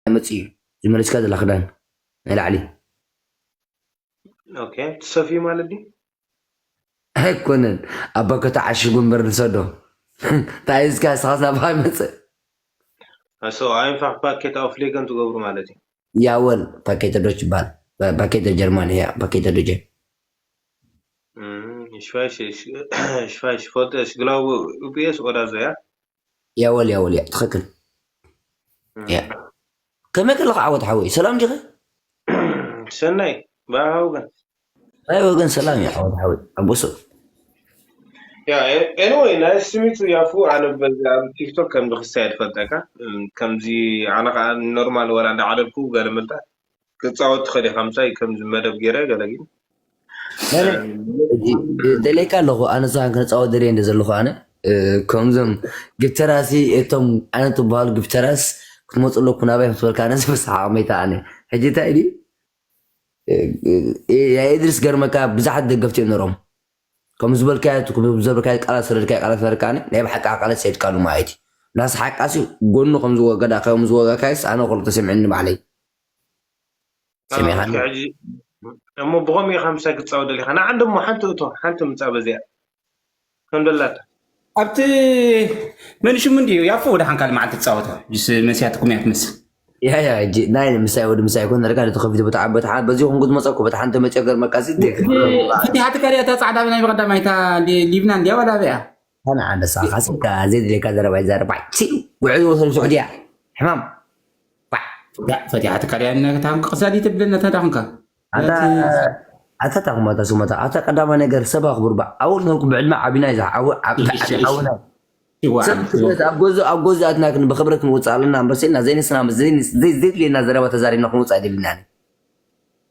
መፂኡ እዩ ዝመለስካ ዘላ ክዳን ናይ ላዕሊ ኦኬ ትሰፍዩ ማለት ድዩ ኣይኮነን ኣብ ባኮ ተዓሽጉ እምበር ንሰዶ እንታይ እስካ ስኻስ ናብኻ ይመፅእ ኣሶ ኣይንፋዕ ፓኬት ኣፍሌገን ትገብሩ ማለት እዩ ያወል ፓኬተ ዶች ይበሃል ባ- ፓኬተ ጀርማን እያ ፓኬተ ዶጀ እም፣ እሺ፣ እሺ፣ እሺ፣ እሺ፣ እሺ፣ ፎቶ፣ እሺ፣ ግላቡ ዩፒኤስ ኦዳ ዘያ ያወል ያወል ያ ትኽክል ያ ከመይ ከለካ ዓወት ሓወይ ሰላም ዲኸ ሰናይ ባባ ወገን ናይ ወገን ሰላም እዩ ዓወት ሓወይ ኣቦሶ ያ ኤኒዌይ ናይ ስሚቱ ያፉ ኣነ በዚ ኣብ ቲክቶክ ከምዚ ክሳየድ ፈልጠካ ከምዚ ኣነ ከዓ ኖርማል ወላ እንዳዓለልኩ ገለ ምልጣ ክትፃወት ትኽእል ኢኻ ምሳይ ከምዚ መደብ ገይረ ገለ ግን ናይ ናይ ሕጂ ደልየካ ኣለኹ ኣነ ንስኻን ክንጻወት ደልየ እንደ ዘለኹ ኣነ እ፣ ከምዞም ግብተራሲ እቶም ዓይነት ዝበሃሉ ግብተራስ ክትመፁ ኣለኩ ናባይ ክትበልካ ኣነ ዝበስሓቅ መይታ ኣነ ሕጂ እንታይ ድዩ እ፣ እ፣ ያ ኢድሪስ ገርመካ ብዙሓት ደገፍቲ እዮም ነሮም ከም ዝበልካዮ እቲ ክብ- ዘብርካዮ ቃላት ሰለልካዮ ቃላት ፈርካ ኣነ ናይ ብሓቂ ዓቃለ ሰይድካሉ ማለት እዩ ናስሓቃሲ ጎኑ ከም ዝወገዳ ከም ዝወጋካዮስ ኣነ ከሉ ተሰሚዑኒ ባዕለይ ሰሚዕካኒ? እስከ ሕጂ እሞ ብኸምኡ ኢኻ ምሳይ ክትጻወት ደሊኻ ንዓን ደሞ ሓንቲ እቶ ሓንቲ ምጻእ በዚኣ ከም ደላታ ኣብቲ መን ሽሙ እንድዩ ያፎ ወደሓን ካልእ መዓልቲ ትጻወታ ጅስ መሲያትኩም እያ ትመስል ያ ያ እጂ ናይ ምሳይ ወዲ ምሳይ ኮን ርካ ነቲ ከፊት ቦታ ዓበታ ሓ በዚ ኮንኩ ዝመጸኩ በታ ሓንቲ መጨገር መቃሲ እቲ ሓቲ ካሪያ እታ ጻዕዳ ናይ ብቀዳማይ እታ ሊብና እንድያ ዋላ ኣበያ ኣነ ዓንደሳ ካስካ ዘይድልየካ ዘረባ ይዛረብ ባዕ ቺ ጉዕዝ ወሰን ሱዑድያ ሕማም ባዕ ፈቲሓ ትካድያ ነታም ቅሳዲ ትብል ነታዳ ኩንካ ኣታ ኣታ ታኩማታ ሱመታ ኣታ ቀዳማ ነገር ሰብ ኣክብሩ ባዕ ኣወል ተንኩ ብዕድመ ዓቢና ይዛ ዓወ ዓውና ሰብ ክብረት ኣብ ገዙ ኣብ ገዙ ኣትና ክን ብክብረት ክንወጽእ ኣለና እምበር ሰልና ዘይንስና ዘይድልየና ዘረባ ተዛሪብና ክንወጽእ ኣይደልናን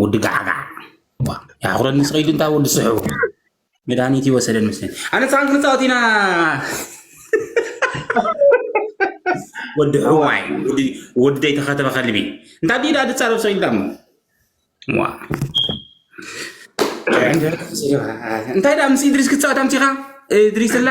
ጉዲ ጋዕጋዕ ዋ ያሕኩረኒ ስቀይዱ እንታይ ወዲ ስሑ መድሃኒት ይወሰደን መስለኝ ኣነ ሳን ክንፃወት ኢና ወዲ ሕዋይ ወዲ ዘይተኸተበ ከልቢ እንታይ ድዩ ዳ ድፃረብ ሰው ኢልዳሞ ዋ እንታይ ዳ ምስ ኢድሪስ ክትፃወት ኣምፂኻ ኢድሪስ ኣላ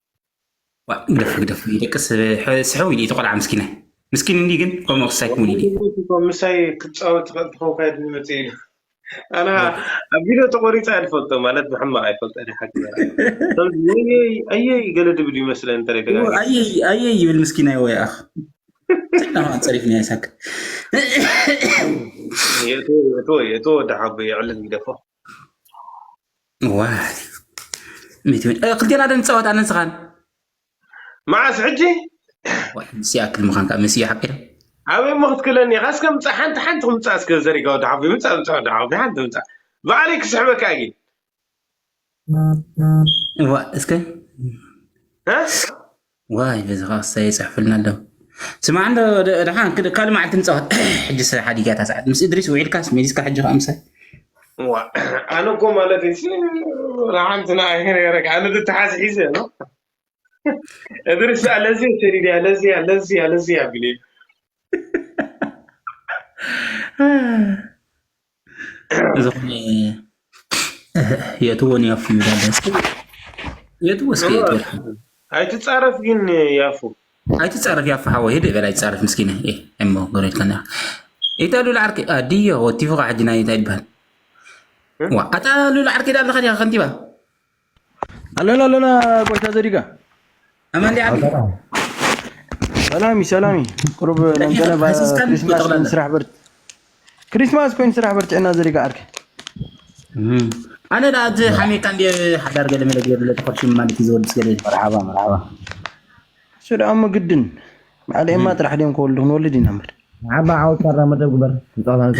ዋእ ግደፉ ግደፉ ይደቅስ ስሕው ኢሉ እቲ ቆልዓ ምስኪነ ምስኪን እንዲ ግን ከምኡ ክሳይ ክውን ኢሉ ምሳይ ክትፃወት ትኽእል ትኸውን ካይድ ዝመፅ ኢሉ ኣና ኣብ ቪድዮ ተቆሪፀ ኣይፈልጦ ማለት ብሕማቕ ኣይፈልጦ ሓቂ ኣየይ ገለ ድብል ይመስለ እንተ ኣየ ይብል ምስኪን ኣይ ወይ ኣኽ ትናማ ፀሪፍኒ ኣይሳክ እቶ ወዲ ሓቦ የዕልል ይደፎ ዋይ ሚእቲ ሚእቲ እ፣ ክልቴና ዶ ንፃወት ኣነን ስኻን መዓስ ሕጂ ዋይ ምስ ይኣክል ምዃን ከዓ ምስ እዩ ሓቂረ ኣበይ እሞ ክትክለኒ ኢኻ እስከ ምፃእ ሓንቲ ሓንቲ ክምፃእ እስከ ዘሪጋ ወዲ ሓፉ ምፃእ ምፃእ ወዲ ሓፉ ሓንቲ ምፃእ ባዕለይ ክስሕበካ እየ ግን ዋ እስከ እ? ዋይ ነዚ ከኣ ክሳይ ይጽሕፍልና ኣሎ ስማዕ እንዶ ደሓን ካልእ መዓልቲ ንጻወት ሕጂ ስራሕ ሓዲጋ እታ ሰዓት ምስ እድሪስ ውዒልካስ መሊስካ ሕጂ ከኣ ምሳይ ኣነ እኮ ማለት ሲ ንሓንቲ ንኣይ ነረካ ኣነ ትትሓዝ ሒዘ ነው እድሪስ በኣ ለዚያ ሸዲድያ ለዚያ ለዚያ ለዚያ ቢሉ ዝኾነ የእትዎ ንያፉ ይብላል እስኪ የእትዎ እስኪ የእትዎ ኣይትፃረፍ ግን ያፉ ኣይትፃረፍ ያፉ ሓወይ ህድእ በል ኣይትፃረፍ ምስኪነ እሞ ጎረጅካና ኢታ ሉላ ዓርኪ ድዮ ወቲፉ ከዓ ሕጂ ናይ እንታይ ይበሃል ኣታ ሉላ ዓርኪ ዳ ኣለካ ዲካ ከንቲባ ኣለና ኣለና ቆይታ ዘዲጋ ኣማን ዲያ ዓዲ ሰላሚ ሰላሚ ቅሩብ ነንገለ ክሪስማስ ኮይኑ ስራሕ በርት ክሪስማስ ኮይኑ ስራሕ በርትዕና ዘዲጋ ዓርኪ ኣነ ዳ እቲ ሓሜካ እንዲ ሓዳር ገለ መለ ገለ ተኸርሽም ማለት እዩ ዝወድስ ገለ መርሓባ መርሓባ እሱ ደኣ እሞ ግድን በዓል ኤማ ጥራሕ ድዮም ክወልዱ ክንወልድ ኢና እምበር ዓባ ዓወት ካራ መደብ ግበር ንፀቕታንካ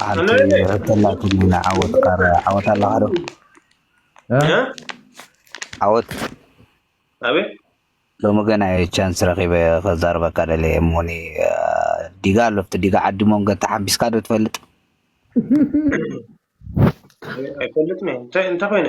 ሓንቲ ሕተላትኒ ንዓወት ቃረ ዓወት ኣለካ ዶ ዓወት ኣቤት ሎሚ ገና እየ ቻንስ ረኺበ ከዛርበካ ደለየ እሞኒ ዲጋ ኣሎ ኣብቲ ዲጋ ዓዲ ሞንገ ተሓምቢስካ ዶ ትፈልጥ ኣይፈልጥን እየ እንታይ እንታይ ኮይነ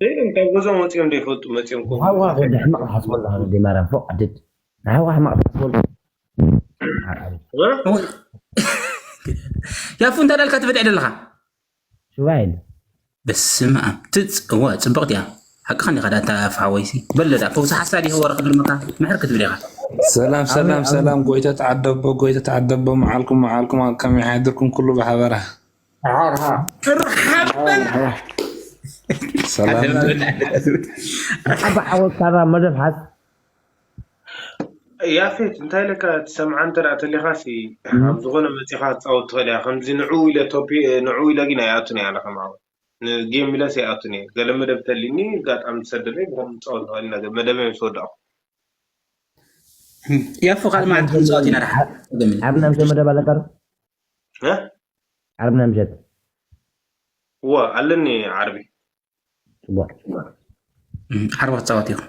ዘይዶም ካብ ገዝኦም ወፂኦም ዶ ይፈልጡ መፂኦም ከምኡ ንሓውካ ዝብል ወዲ ሕማቅ ትሓስቦ ኣለካ ወዲ ማርያም ፎእ ዓደድ ንሓውካ ሕማቅ ትሓስቦ ኣለካ ምዓር ኣበይ እ? እወ ያፉ እንታይ ዳልካ ትበድዕ ደለኻ ሽባ የለ በስመ ኣብ ትጽ እወ ጽብቕቲ እያ ሓቅኻ እንዲኻ ዳኣ እታ ያፉ ሓወይሲ በሎ ዳኣ ፈውሲ ሓሳድ ይህቦ ረክድልመካ ምሕር ክትብል ኢኻ ሰላም ኣሜን ሰላም ኣሜን ሰላም ጎይታ ተዓደቦ ጎይታ ተዓደቦ መዓልኩም መዓልኩም ኣብ ከመይ ሓድርኩም ኩሉ ብሓበራ ያፌት እንታይ ኢለካ ትሰምዓ እንተ ተሊኻሲ ኣብ ዝኾነ መፂኻ ትፃወት ትኽእል እያ ከምዚ ንዑ ኢለ ቶፒ ንዑ ኢለ ግን ኣይኣቱን እየ ኣለኸ ማዕበል ንጌም ኢለስ ኣይኣቱን እየ ገለ መደብ ተሊኒ ኣጋጣሚ ትሰደለይ ብኸም ንፃወት ንኽእል ኢና ግን መደበይ ምስ ወዳእኹ ያፎ ካልእ መዓልቲ ክንፃወት ኢና ደሓን ኣብ ናይ መደብ ኣለካ ዶ እ ዓርቢ ናይ ምሸት እወ ኣለኒ ዓርቢ ፅቡቅ ዓርቢ ክትፃወት ኢኹ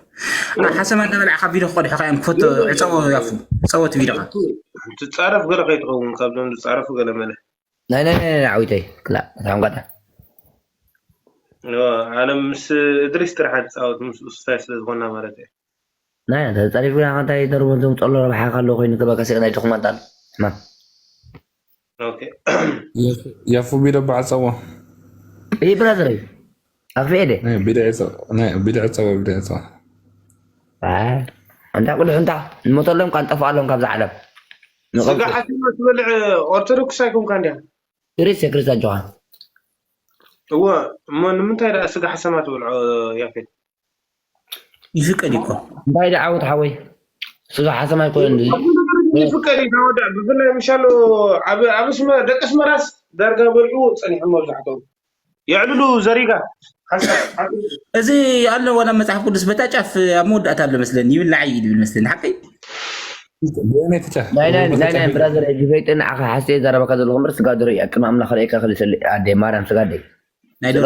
እ፣ ሓሰማ እንዳበላዕ ካብ ቪድዮ ክቀድሑካ እዮም ክፈቶ የለን ዕፀዎ የለን ያፉ ፀዎ እቲ ቪድዮካ ሓንቲ ሓንቲ ትፃረፍ ገለ ከይትኸውን ካብዞም ዝፃረፉ ገለ መለ ናይ ናይ ናይ ናይ ዓዊተይ ክላእ ታንጓዳ እወ፣ ኣነ ምስ እድሪስ ጥራሕ ትፃወት ምስ ኡስታይ ስለ ዝኾና ማለት እየ ናይ ኣንተ ተጸሪፍና ከ እንታይ ይደርቦ ዘምጸሎ ረብሓ ከ ኣሎ ኮይኑ ከ በቃ ስእሊ ናይ ድኹማት ኣሎ ሕማም ኦኬ ያፉ ቢዶ ባዕጸዎ እይ ብራዘረይ ኣክፍኤ ደ ናይ ቢድዒ ጸ- ናይ ቢድዒ ጸዎ ቢድዒ ጸዎ ኣንታ ቅዱሕ እንታ ንሞተሎም ቃል ጠፍኣሎም ካብዛ ዓለም ንቐብር ስጋ ሓቲማ ትበልዕ ኦርቶዶክስ ኣይኮንካ እንዲያ ክርስ ክርስ ኣጆኻ እወ እሞ ንምንታይ ደኣ ስጋ ሓሰማ ትበልዖ ያፌት ይፍቀድ እኮ እንታይ ዳዓወት ዓወት ሓወይ ስጋ ሓሰማ ኣይኮነን እዚ ይፍቀድ እዩ ታወዳእ ብፍላይ ምሻሎ ኣብ ደቂ ኣስመራስ ዳርጋ በልዑ ፀኒሖም መብዛሕትኦም የዕልሉ ዘሪጋ እዚ ኣሎ ዋላ መፅሓፍ ቅዱስ በታ ጫፍ ኣብ መወዳእታ ኣሎ መስለኒ ይብላዕ እዩ ዝብል መስለኒ ሓቀይ ናይናይ ብራዘር ሕጂ ፈይጥን ዓኸ ሓስየ ዘረባካ ዘለኹ ምር ስጋ ዶሮ እዩ ኣቅም ኣምላኽ ርእካ ክልሰል ኣደ ማርያም ስጋ ኣደ ናይ ዶሮ